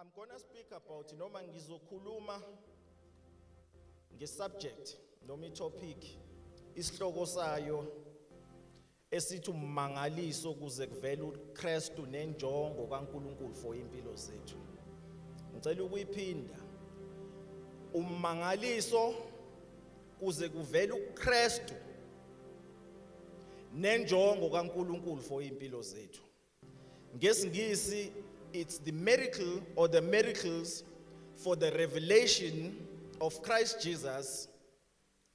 I'm going to speak about noma ngizokhuluma ngesubject noma itopic isihloko sayo esithi ummangaliso kuze kuvele uKristu nenjongo kaNkuluNkulu for impilo zethu ngicela ukuyiphinda ummangaliso kuze kuvele uKristu nenjongo kaNkuluNkulu for impilo zethu ngesingisi it's the miracle or the miracles for the revelation of Christ Jesus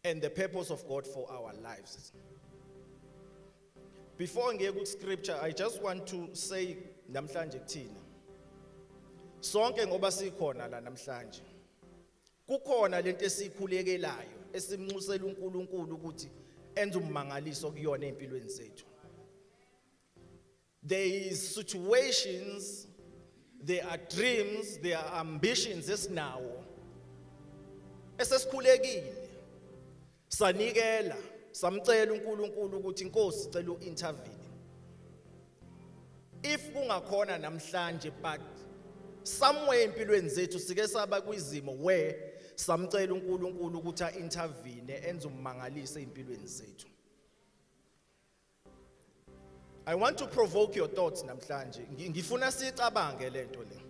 and the purpose of God for our lives. Before ngiye ku scripture I just want to say namhlanje kuthina sonke ngoba sikhona la namhlanje kukhona lento esikhulekelayo esimnxusela uNkulunkulu ukuthi enze ummangaliso kuyona empilweni zethu There is situations, there are dreams, there are ambitions esinawo. Esesikhulekile. Sanikela, samcela uNkulunkulu ukuthi inkosi cela uintervene. If kungakhona namhlanje but somewhere empilweni zethu sike saba kwizimo where samcela uNkulunkulu ukuthi aintervene enze ummangalise empilweni zethu. I want to provoke your thoughts namhlanje. Ngifuna sicabange lento le.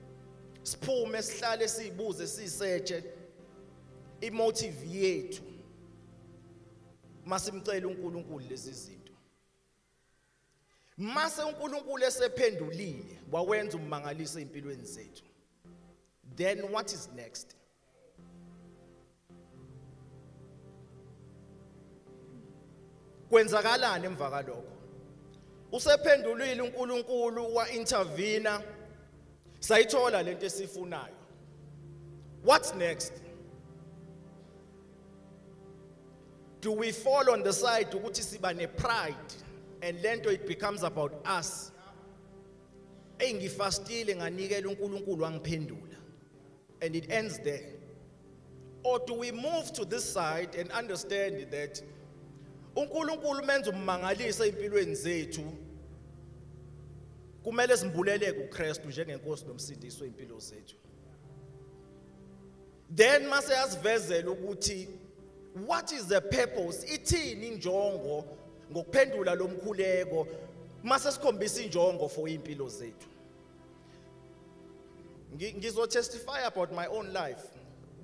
Siphume sihlale sibuze sisetshe imotive yethu. Masimcela uNkulunkulu lezi zinto. Mase uNkulunkulu esephendulile wawenza umangaliso empilweni zethu. Then what is next? kwenzakalani emva kalokho usephendulile uNkulunkulu wa intervene sayithola lento esifunayo what's next do we fall on the side ukuthi siba ne pride and lento it becomes about us engifastile nganikela uNkulunkulu wangiphendula And it ends there. Or do we move to this side and understand that uNkulunkulu menza ummangalisa empilweni zethu kumele simbuleleke uKristu njengenkosi nomsindiso impilo zethu then mase yasivezela ukuthi what is the purpose ithini injongo ngokuphendula lomkhuleko mase sikhombisa injongo for impilo zethu Ngizo testify about my own life.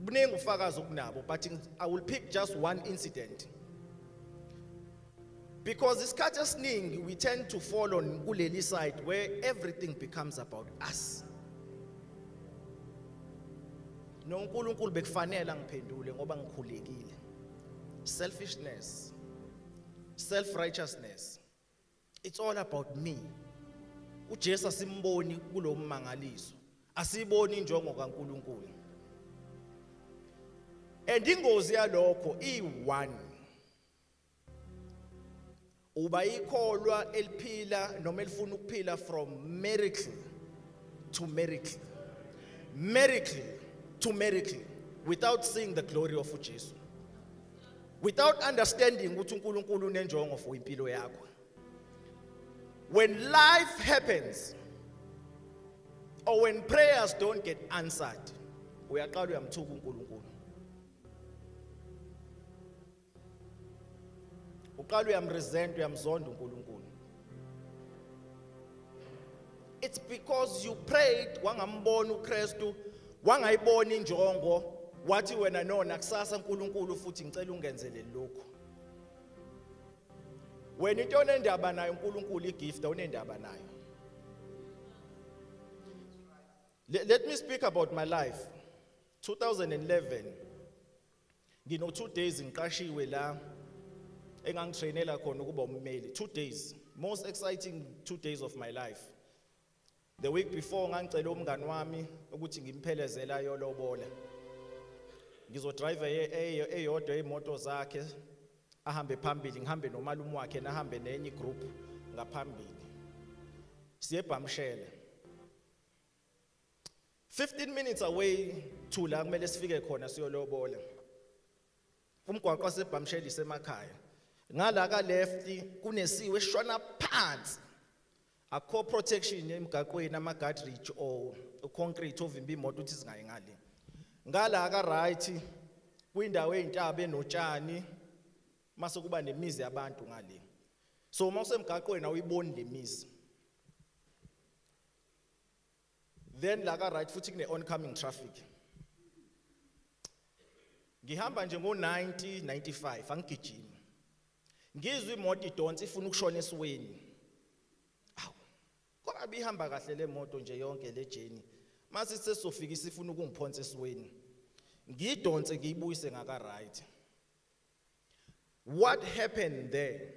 Buningi ufakazi okunabo but I will pick just one incident. Because isikhathi esiningi we tend to fall on kuleli side where everything becomes about us. noNkulunkulu bekufanele angiphendule ngoba ngikhulekile selfishness self righteousness it's all about me uJesu asimboni kulommangaliso asiboni injongo kaNkuluNkulu and ingozi yalokho i1 uba ikholwa eliphila noma elifuna ukuphila from miracle to miracle miracle to miracle without seeing the glory of uJesu without understanding ukuthi uNkulunkulu unenjongo for impilo yakho when life happens or when prayers don't get answered uyaqala uyamthuka uNkulunkulu uqala uyamresent uyamzonda uNkulunkulu It's because you prayed wangambona uKristu, wangayibona injongo, wathi wena no nakusasa uNkulunkulu futhi ngicela ungenzele lokho. Wena into onendaba nayo uNkulunkulu igift onendaba nayo. Let, let me speak about my life. 2011 ngino two days ngiqashiwe la engangitrainela khona ukuba ummeli two days most exciting two days of my life the week before ngangicela umngani wami ukuthi ngimphelezele ayolobola ngizodrive eyodwa imoto zakhe ahambe phambili ngihambe nomalume wakhe nahambe nenye igroup ngaphambili siyebhamshele 15 minutes away to la kumele sifike khona siyolobola umgwaqo wasebhamsheli semakhaya ngala ka left kunesiwe shona phansi akho protection emgaqweni ama guard ridge o concrete ovimba imoto ukuthi singayi ngale ngala ka right kwindawo ezintaba enotshani mase kuba nemizi yabantu ngale so uma usemgaqweni awuyiboni lemizi then la ka right futhi kune oncoming traffic ngihamba nje ngo 90 95 angigijimi ngizwe imoto idonsa ifuna ukushona esiweni awu kodwa bihamba kahle le moto nje yonke le journey mase sesofika isifuna ukungiphonsa esiweni ngidonse ngiyibuyise ngaka right what happened there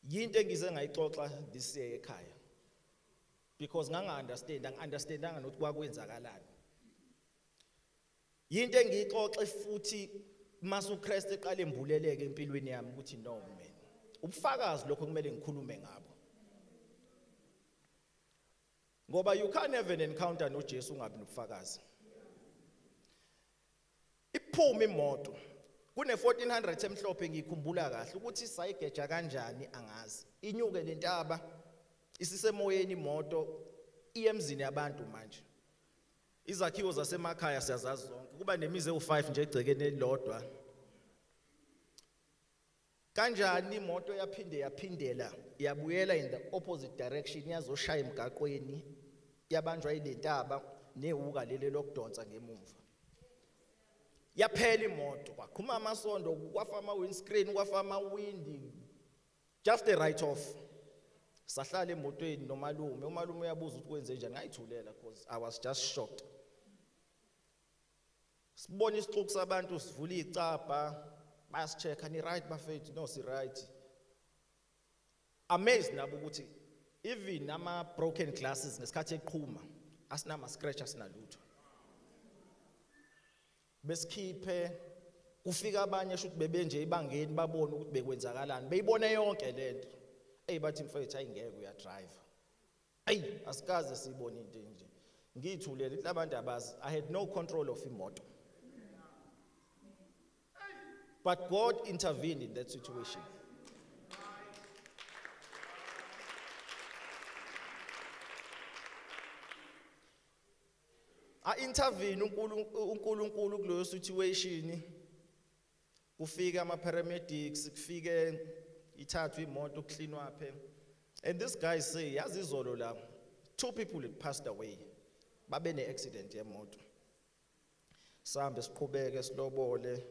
yinto engize ngayixoxa this year ekhaya because nganga understand angi understandanga nokuthi kwakwenzakalani yinto engiyixoxe futhi masu Christ eqale embuleleke empilweni yami ukuthi no man ubufakazi lokho kumele ngikhulume ngabo ngoba you can't have an encounter noJesu ungabi nobufakazi iphuma imoto kune 1400 emhlophe ngikhumbula kahle ukuthi sayigeja kanjani angazi inyuke lentaba isisemoyeni imoto iyemzini yabantu manje izakhiwo zasemakhaya siyazazi zonke kuba nemizi ewu5 nje egcekeni elilodwa Kanjani imoto yaphinde yaphindela yabuyela in the opposite direction yazoshaya emgaqweni yabanjwa ilentaba newuka leli lokudonsa ngemumva. Yaphela imoto kwaqhuma amasondo kwafa ama windscreen kwafa ama windi just a write off. Sahlala emotweni nomalume umalume uyabuza ukuthi kwenze njani ngayithulela because I was just shocked. sibona isixuku sabantu sivula icabha bayasichecka ni right bafethu no si right amazed nabo ukuthi even ama broken glasses ngesikhathi eqhuma asinama scratch asinalutho besikhiphe kufika abanye shuthi bebenje ibangeni babone ukuthi bekwenzakalani beyibone yonke lento eyi bathi mfethu ayingeke uyadrive ayi asikaze sibone into enje ngiyithulele ithi abantu abazi i had no control of imoto but god intervened in that situation a intervene uNkulunkulu kuleyo situation kufike ama paramedics kufike ithathwe imoto kucleanwa phe and this guy say yazi izolo la two people had passed away babe ne accident yemoto sambe siqhubeke silobole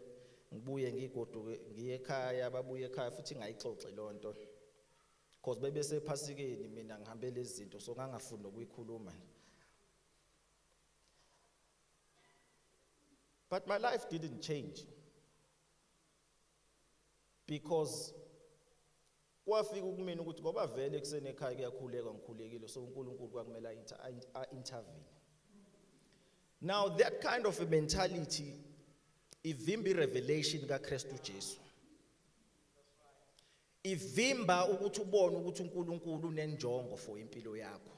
ngibuye ngigoduke ngiye ekhaya babuye ekhaya futhi ngayixoxe lonto because bebe sephasikeni mina ngihambele izinto so ngangafuni nokuyikhuluma nje But my life didn't change because kwafika ukumina ukuthi ngoba vele ekuseni ekhaya kuyakhuleka ngikhulekile so uNkulunkulu kwakumele a-intervene now that kind of a mentality ivimba irevelation kaKristu Jesu ivimba ukuthi ubone ukuthi uNkulunkulu unenjongo for impilo yakho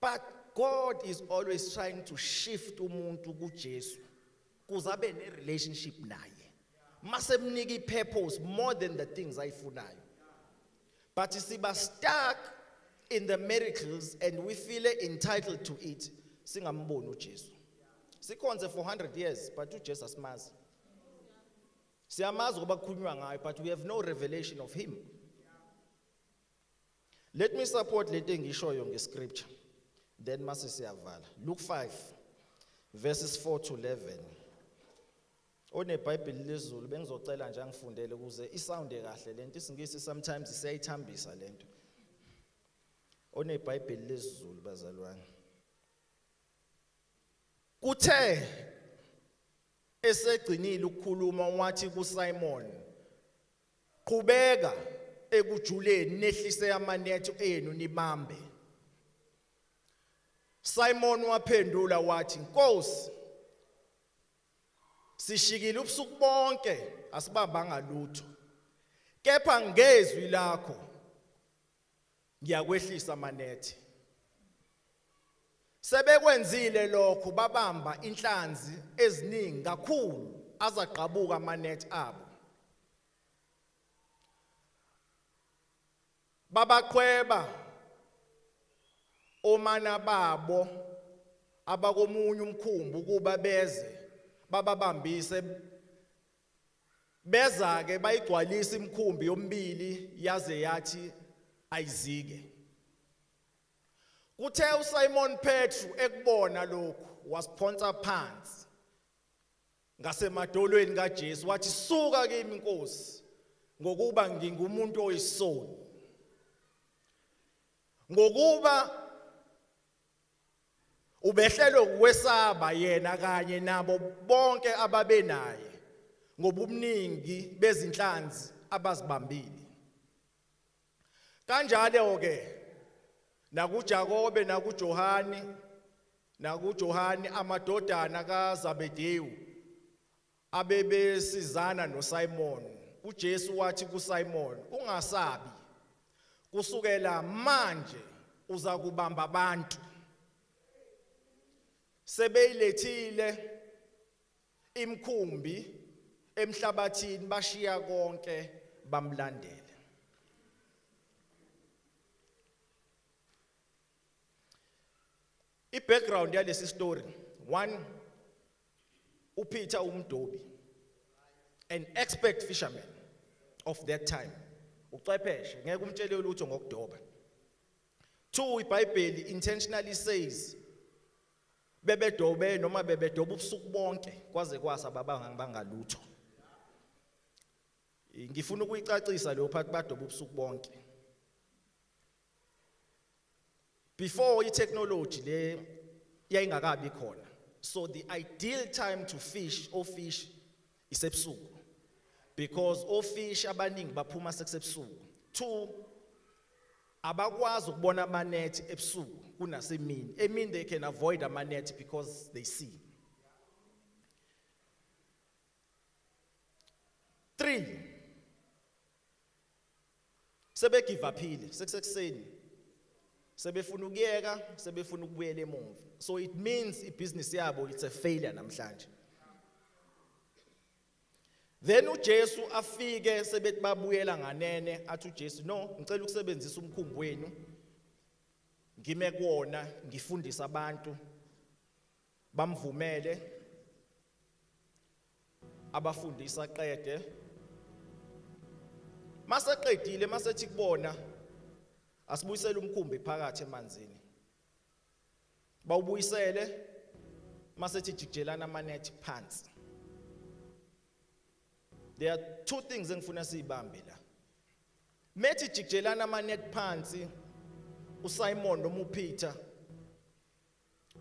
But God is always trying to shift umuntu kuJesu kuze abe ne relationship naye. Masemnika ipurpose more than the things ayifunayo. But siba stuck in the miracles and we feel entitled to it singamboni uJesu. Sikhonze for 100 years but uJesu asimazi. Siyamazi ngoba kukhulunywa ngayo but we have no revelation of him. Let me support lento engishoyo ngescripture. Then mase siyavala. Luke 5 verses 4 to 11. OneBhayibheli lezulu bengizocela nje angifundele ukuze isounde kahle lento isingisi sometimes siyayithambisa lento. OneBhayibheli lezulu bazalwane. Kuthe esegcinile ukukhuluma wathi kuSimon Qhubeka ekujuleni nehlise amanetho enu nibambe. Simon waphendula wathi, "Nkosi, sishikile ubusuku bonke asibambanga lutho. Kepha ngezwi lakho ngiyakwehlisa manethe sebekwenzile lokho babamba inhlanzi eziningi kakhulu azagqabuka amanethi abo babaqhweba omana babo abakomunye umkhumbi ukuba beze bababambise beza ke bayigcwalisa imkhumbi yombili yaze yathi ayizike kuthe uSimon Petru ekubona lokhu wasiphonsa phansi ngasemadolweni kaJesu wathi suka kimi inkosi ngokuba ngingumuntu oyisoni ngokuba Ubehlelwe ukwesaba yena kanye nabo bonke ababenaye ngobuningi bezinhlanzi abazibambile. Kanjalo ke nakuJakobe nakuJohane nakuJohane amadodana kaZabedewu abebesizana noSimon uJesu wathi kuSimon ungasabi kusukela manje uza kubamba abantu sebeyilethile imkhumbi emhlabathini bashiya konke bamlandela I background yalesi story one uPeter umdobi an expert fisherman of that time ucepheshe ngeke umtshele lutho ngokudoba two iBhayibheli intentionally says bebedobe noma bebedoba ubusuku bonke kwaze kwasa babanga bangalutho ngifuna ukuyicacisa leyo part badoba ubusuku bonke before i-technology le yayingakabi khona so the ideal time to fish ofish isebusuku because ofish abaningi baphuma sekusebusuku two abakwazi ukubona amanethi ebusuku kunasemini emini they can avoid amanethi because they see three sebegive aphile sekusekuseni sebefuna ukuyeka sebefuna ukubuyela emuva so it means ibhizinisi yabo it's a failure namhlanje then uJesu afike sebethi babuyela nganene athi uJesu no ngicela ukusebenzisa umkhumbi wenu ngime kuwona ngifundisa abantu bamvumele abafundisa qede maseqedile masethi kubona asibuyisele umkhumbi phakathi emanzini bawubuyisele masethi jijelana amanethi phansi there are two things engifuna siyibambe la methi jijelana amanethi phansi uSimon nomuPeter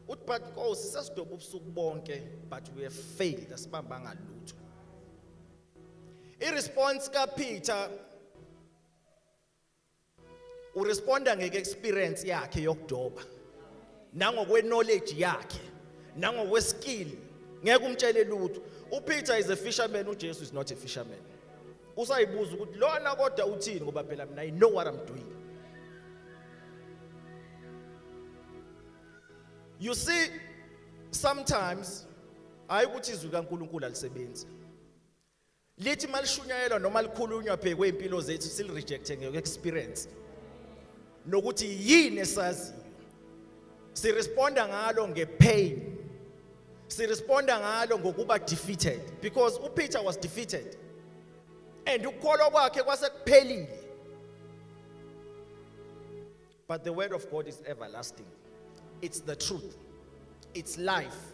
uthi but nkosi sesidoba ubusuku bonke but we have failed asibambanga lutho iresponse kaPeter uresponda ngeke experience yakhe yokudoba nangokwe knowledge yakhe nangokwe skill ngeke umtshele lutho uPeter is a fisherman uJesu is not a fisherman usayibuza ukuthi lona kodwa uthini ngoba phela mina i know what i'm doing You see sometimes hayi ukuthi izwi kaNkuluNkulu alisebenzi. Lithi malishunyayelwa noma likhulunywa phekwe impilo zethu sil rejecte ngeke experience. Nokuthi yini esaziyo. Si responda ngalo nge pain. Si responda ngalo ngokuba defeated because uPeter was defeated. And ukukholwa kwakhe kwase kuphelile. But the word of God is everlasting. It's the truth. It's life.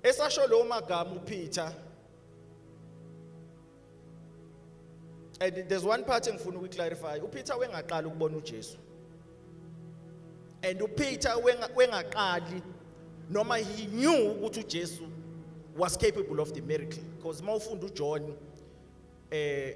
Esasho lo magama uPeter and there's one part engifuna ukuyiclarify uPeter wengaqala ukubona uJesu and uPeter wengaqali noma he knew ukuthi uJesu was capable of the miracle because uma ufunda uJohn eh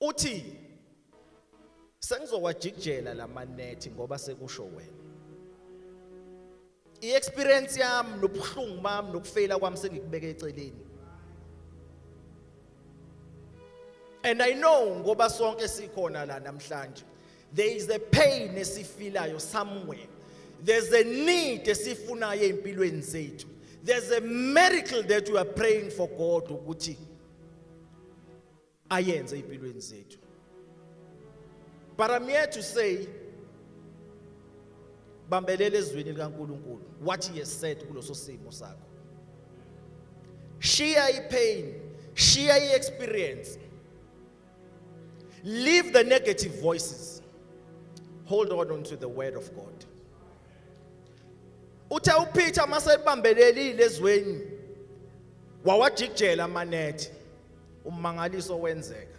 Uthi sengizowajikjela lamanethi ngoba sekusho wena. I-experience yami nobuhlungu bami nokufeyila kwami sengikubeke eceleni. And I know ngoba sonke sikhona la namhlanje. There is a pain esifilayo somewhere. There's a need esifunayo empilweni zethu. There's a miracle that we are praying for God ukuthi ayenze empilweni zethu but i'm here to say bambelele ezwini likaNkuluNkulu what he has said kuloso simo sakho shiya ipain shiya iexperience leave the negative voices hold on unto the word of god uthe uPeter masebambelelile ezweni wawajikjela amanethi ummangaliso wenzeka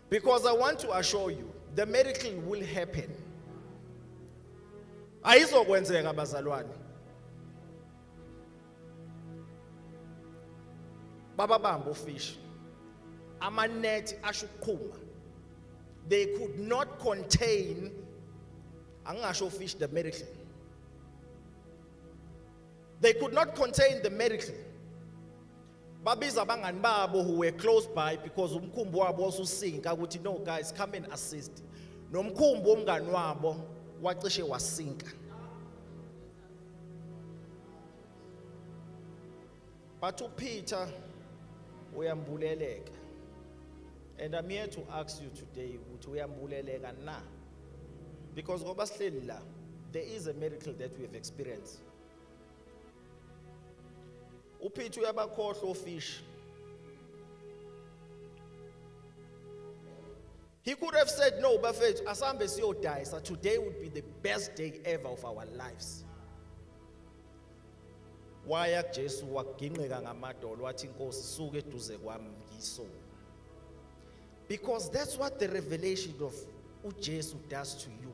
because i want to assure you the miracle will happen ayizokwenzeka bazalwane baba bamba ufish amanethi asho ukuqhuma they could not contain angingasho fish the miracle they could not contain the miracle babiza abangani babo who were close by because umkhumbi wabo wasusinka ukuthi no guys come and assist nomkhumbi womngani wabo wacishe wasinka but uPeter uyambuleleka and i'm here to ask you today ukuthi uyambuleleka na because ngoba sihleli la there is a miracle that we have experienced uphithi uyabakhohlwa ofishi He could have said, No, Bafet, Asambe Sio dies. So today would be the best day ever of our lives. waya kujesu wagingqika ngamadolo wathi inkosi suke eduze kwami ngiso because that's what the revelation of ujesu does to you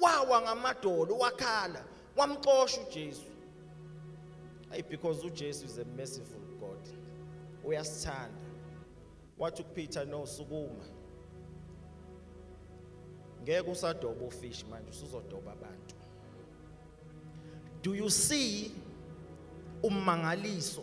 wawa ngamadolo wakhala wamxosha uJesu ay because uJesu is a merciful God uyasithanda wathi kuPeter no sukuma ngeke usadoba ufish manje usuzodoba abantu do you see ummangaliso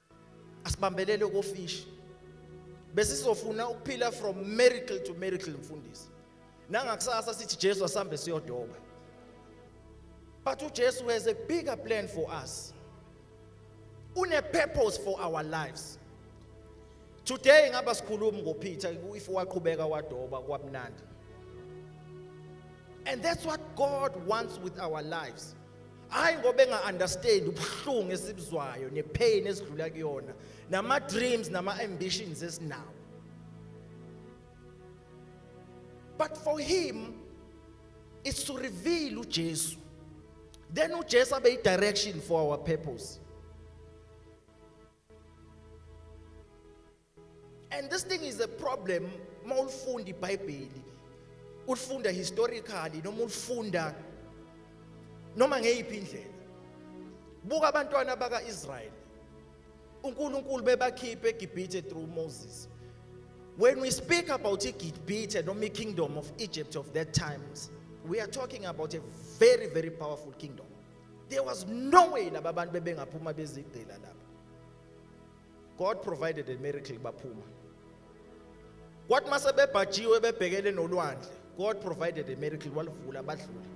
asibambelele kofishi besizofuna ukuphila from miracle to miracle mfundisi nangakusasa sithi Jesu asambe siyodoba but uJesu has a bigger plan for us une purpose for our lives today ngaba sikhulumi ngoPeter if waqhubeka wadoba kwabnandi and that's what God wants with our lives hayi ngoba enga-understand ubuhlungu esibuzwayo ne-pain esidlula kuyona nama-dreams nama-ambitions esinawo but for him is to reveal uJesu then uJesu abe i-direction for our purpose And this thing is a problem mawulifunda iBhayibheli. Ulifunda historically noma ulifunda noma ngeyiphi indlela. Buka abantwana bakaIsrael. uNkulunkulu bebakhiphe eGibhithe through Moses. When we speak about iGibhithe noma ikingdom of Egypt of that times, we are talking about a very very powerful kingdom. There was no way laba bantu bebengaphuma bezigcila lapha. God provided a miracle baphuma kwathi mase bebhajiwe bebhekele nolwandle God provided a miracle walivula badlula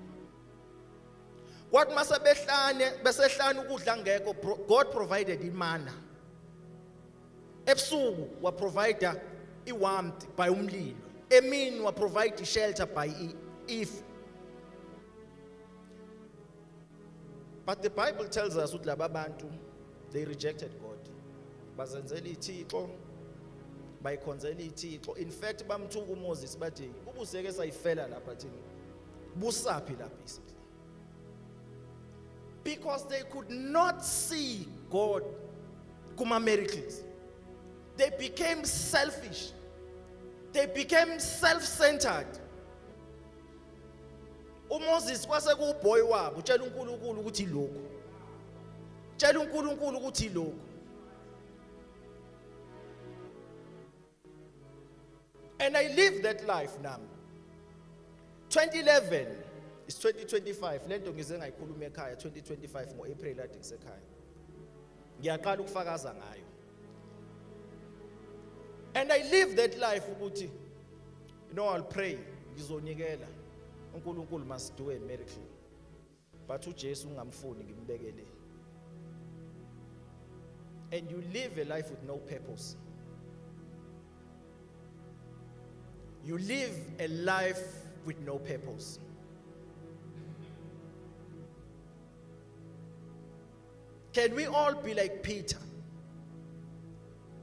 kwathi mase behlane besehlane ukudla ngekho God provided imana ebusuku wa provider i warmth by umlilo emini wa provide shelter by if But the Bible tells us ukuthi laba bantu they rejected God. Bazenzela ithixo bayikhonzela ithixo. In fact bamthuka uMoses bathi ubuseke sayifela lapha thina. Busaphi la basically. Because they could not see God kuma miracles. They became selfish. They became self-centered. uMoses kwase kuwuboy wabo tshela uNkulunkulu ukuthi lokho tshela uNkulunkulu ukuthi lokho and i live that life nami 2011 is 2025 lento ngize ngayikhuluma ekhaya 2025 ngo April ade ngisekhaya ngiyaqala ukufakaza ngayo and i live that life ukuthi You know I'll pray ngizonikela uNkulunkulu must do a miracle. But uJesu ungamfuni ngimbekele. And you live a life with no purpose. You live a life with no purpose. Can we all be like Peter?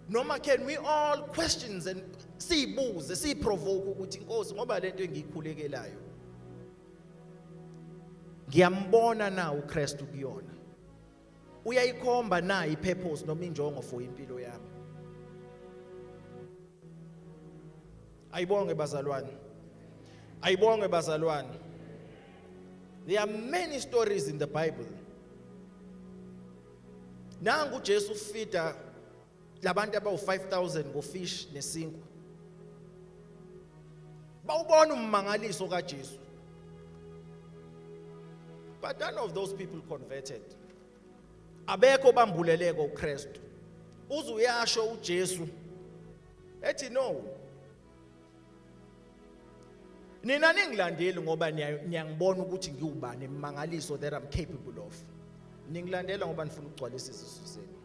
Noma can we all questions and siyibuze siyiprovoke ukuthi inkosi ngoba lento engiyikhulekelayo ngiyambona na uKristu kuyona uyayikhomba na ipurpose noma injongo for impilo yami ayibonge bazalwane ayibonge bazalwane There are many stories in the Bible. Nangu Jesu fida labantu abawu-5000 ngofish nesinkwa. Bawubona ummangaliso kaJesu. But none of those people converted. Abekho bambuleleko uKristu. Uze uyasho uJesu ethi no nina ningilandeli ngoba niyangibona ukuthi ngiwubani imangaliso that I'm capable of ningilandela ngoba nifuna ukugcwalisa izisu zenu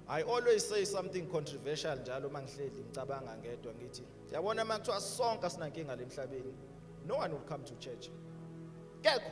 I always say something controversial njalo uma ngihleli ngicabanga ngedwa ngithi yabona uma kuthiwa sonke asinankinga lemhlabeni no one will come to church kekho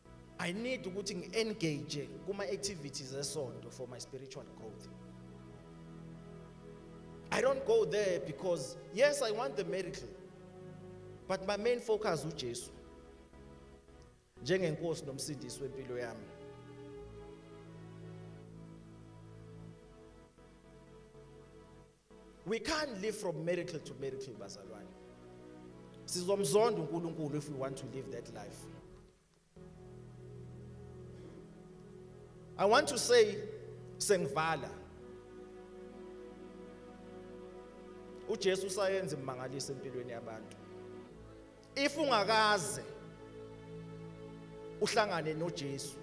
I need ukuthi ngi-engage kuma activities esonto for my spiritual growth. I don't go there because yes I want the miracle but my main focus uJesu njengenkosi nomsindisi wempilo yami. We can't live from miracle to miracle bazalwane. Sizomzonda uNkulunkulu if we want to live that life. I want to say sengivala. UJesu usayenza imangaliso empilweni yabantu. if ungakaze uhlangane noJesu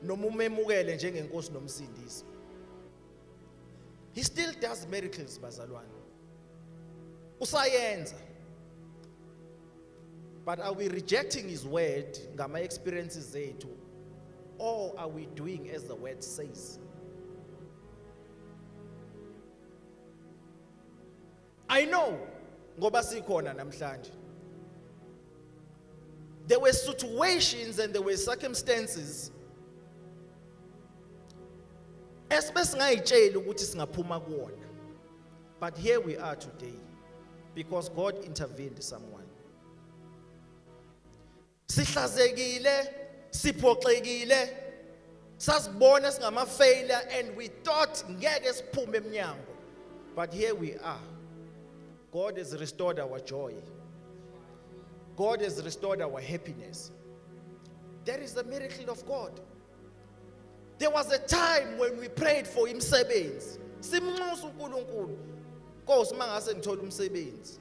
noma umemukele njengenkosi nomsindisi he still does miracles bazalwane usayenza but are we rejecting his word ngama experiences zethu or are we doing as the word says I know ngoba sikhona namhlanje. There were situations and there were circumstances esibe singayitsheli ukuthi singaphuma kuwona. But here we are today because God intervened someone. sihlazekile siphoxekile sasibona singama failure and we thought ngeke siphume eminyango but here we are god has restored our joy god has restored our happiness that is the miracle of god there was a time when we prayed for imsebenzi simnxusa uNkulunkulu Nkosi mangase ngithola umsebenzi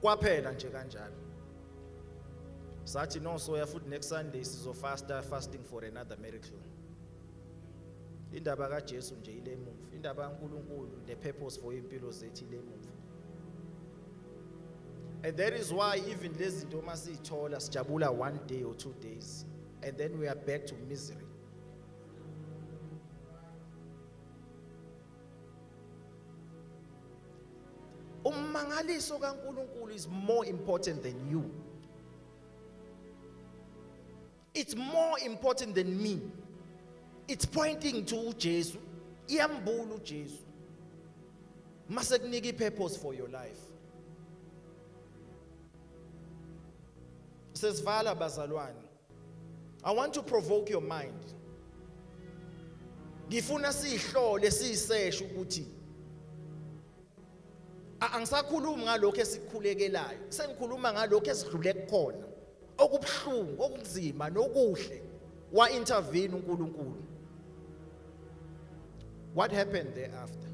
kwaphela nje kanjalo sathi no soya futhi next sunday sizofasta fasting for another miracle indaba kaJesu nje ile mumva indaba kaNkuluNkulu the purpose for impilo zethu ile mumva and that is why even lezi zinto uma sithola sijabula one day or two days and then we are back to misery ummangaliso kaNkulunkulu is more important than you it's more important than me it's pointing to uJesu iyambula uJesu mase kunika ipurpose for your life sesivala bazalwane I want to provoke your mind. Ngifuna sihlole siseshe ukuthi angisakhulumi ngalokho esikhulekelayo, sengikhuluma ngalokho esidlule kukhona. Okubuhlungu, okunzima nokuhle wa intervene uNkulunkulu. What happened thereafter?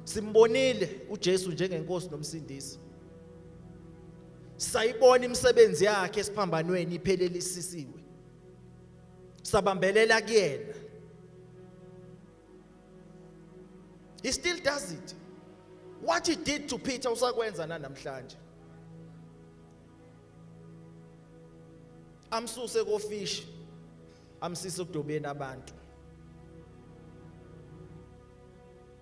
Simbonile uJesu njengenkosi nomsindisi. sayibona imisebenzi yakhe esiphambanweni iphelelisisiwe sabambelela kuyena he still does it what he did to Peter usakwenza nanamhlanje amsuse kofish amsise kudobeni abantu